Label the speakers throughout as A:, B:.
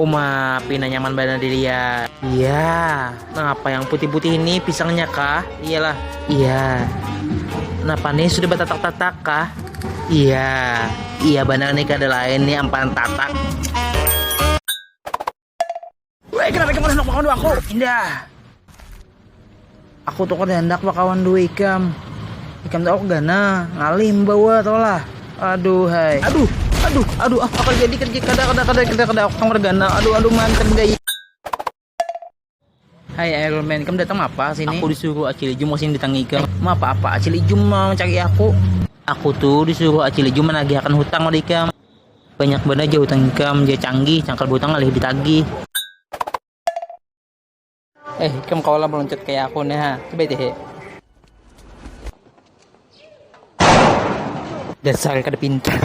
A: Uma, pina nyaman banar dilihat. Iya, napa yang putih-putih ini pisangnya kah? Iyalah. Iya. Napa nih sudah batatak-tatak kah? Iya. Iya banar nih kada lain nih amparan tatak. Weh, kenapa kamu hendak makawan aku? Indah. Aku tuh kan hendak makawan dua ikam. Ikam tuh aku gana, ngalih membawa tau lah. Aduh, hai. Aduh, aduh, aduh, ah, apa jadi kerja kada kada kada kada kada aku kamar gana. Aduh, aduh, mantan gaya. Hai Iron Man, kamu datang apa sini? Aku disuruh Acil Ijum kesini datang ikam. Eh, mau apa-apa? Acil Ijum mau mencari aku. Aku tuh disuruh Acil Ijum menagihkan hutang oleh ikam. Banyak banar ja hutang ikam ja canggih, cangkal bahutang ngalih ditagih. Eh ikam kawa lah meluncat kaya aku ne ha, coba te he. Dasar kada pintar.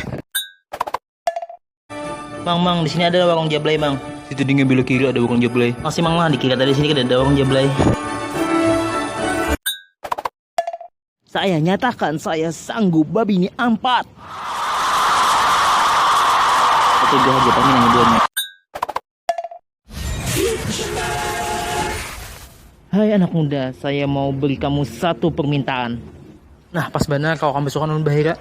A: Mang, mang, disini ada warung jablay mang. Situ dingin belok kiri ada warung jablay. Makasih mang, mang, dikira tadi disini kadada warung jablay. Saya nyatakan saya sanggup babini ampat. Setuju haja kami nang duanya. Hai anak muda, saya mau beri kamu satu permintaan. Nah, pas banar kawa kampus tu kan ulun bahira.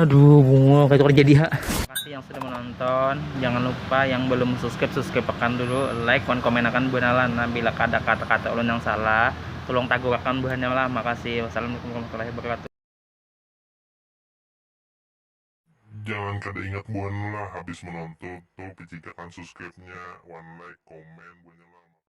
A: Aduh, bungo kayak tukar jadi ha. Terima kasih yang sudah menonton. Jangan lupa yang belum subscribe, subscribe akan dulu. Like, kon komen akan buanalan. Nah, bila ada kata-kata ulun yang salah, tolong tagur akan buhannya lah. Makasih. Wassalamualaikum warahmatullahi wabarakatuh. Jangan kada ingat buhannya lah habis menonton. Tolong picik akan subscribe-nya wan like, komen buhannya lah. Makasih.